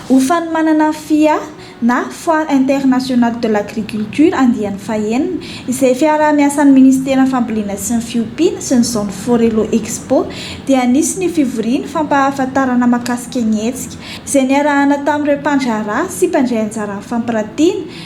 Ho fanomanana fia na Foire internationale de l'agriculture andiany fahenina, izay fiaraha-miasan'ny Ministeran'ny Fambolena sy ny Fiompiana sy ny Zone Forello Expo dia anisin'ny fivoriana fampahafantarana mahakasika ny hetsika, izay niarahana tamin'ireo mpandraharaha sy mpandray anjara amin'ny fampiratiana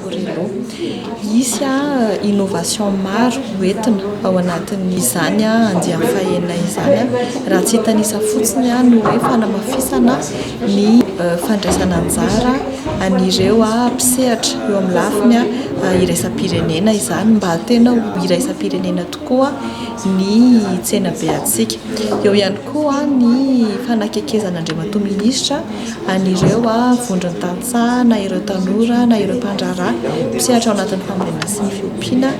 Borello. Hisy innovation maro hoentina ao anatin'izany andiany fahenina izany, raha tsy hitanisa fotsiny ny hoe fanamafisana ny fandraisana anjara an'ireo mpisehatra eo amin'ny lafiny iraisam-pirenena izany mba tena ho iraisam-pirenena tokoa ny tsenabe antsika. Eo ihany koa ny fanakekezana Andriamatoa Minisitra. an'ireo vondron-tantsaha na ireo tanora na ireo mpandraharaha mpisehatra ao anatin'ny fambolena sy ny fiompiana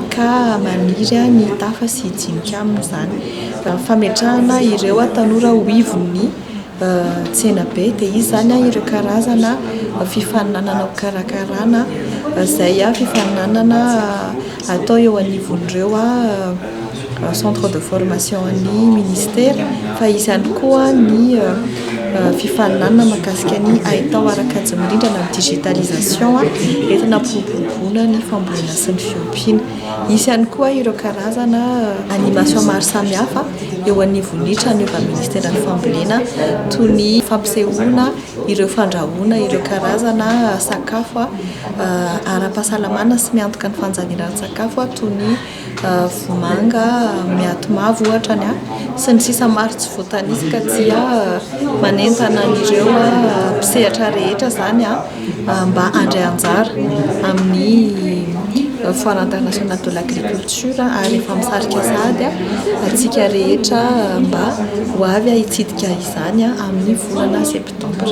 ka maniry ny hitafa sy hijinika amin'izany. Fametrahana ireo tanora ho ivon'ny tsenabe, dia izy izany ireo karazana fifaninanana ho karakarana izay fifaninanana. atao eo anivon'ireo centre de formation-n'ny ministera fa hisy ihany koa ny fifaninanana mahakasika ny haitao ara-kajy mirindra na ny digitalisation entina hampiroboroboana ny fambolena sy ny fiompiana. Hisy ihany koa ireo karazana animation maro samihafa eo anivon'ny tranon' ny efa-ministeran'ny fambolena toy ny fampisehoana. ireo fandrahoana ireo karazana sakafo ara-pahasalamana sy miantoka ny fanjaniran-tsakafo toy ny vomanga miaty mavo ohatra ny ahy sy ny sisa maro tsy voatanisa ka dia manentana an'ireo mpisehatra rehetra izany aho mba handray anjara amin'ny foire internationale de l'agriculture ary efa misarika sahady aho antsika rehetra mba ho avy hitsidika izany izany amin'ny volana septambra.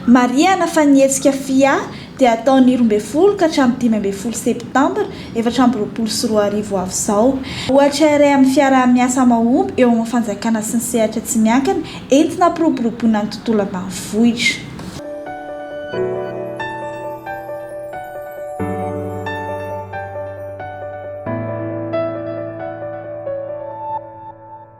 Marihana fa ny hetsika FIA dia hatao ny roa ambin'ny folo ka hatramin'ny dimy ambin'ny folo septambra efatra amby roapolo sy roa arivo ho avy izao. Ohatra iray amin'ny fiaraha-miasa mahomby eo amin'ny fanjakana sy ny sehatra tsy miankina entina hampiroboroboana ny tontolo ambanivohitra.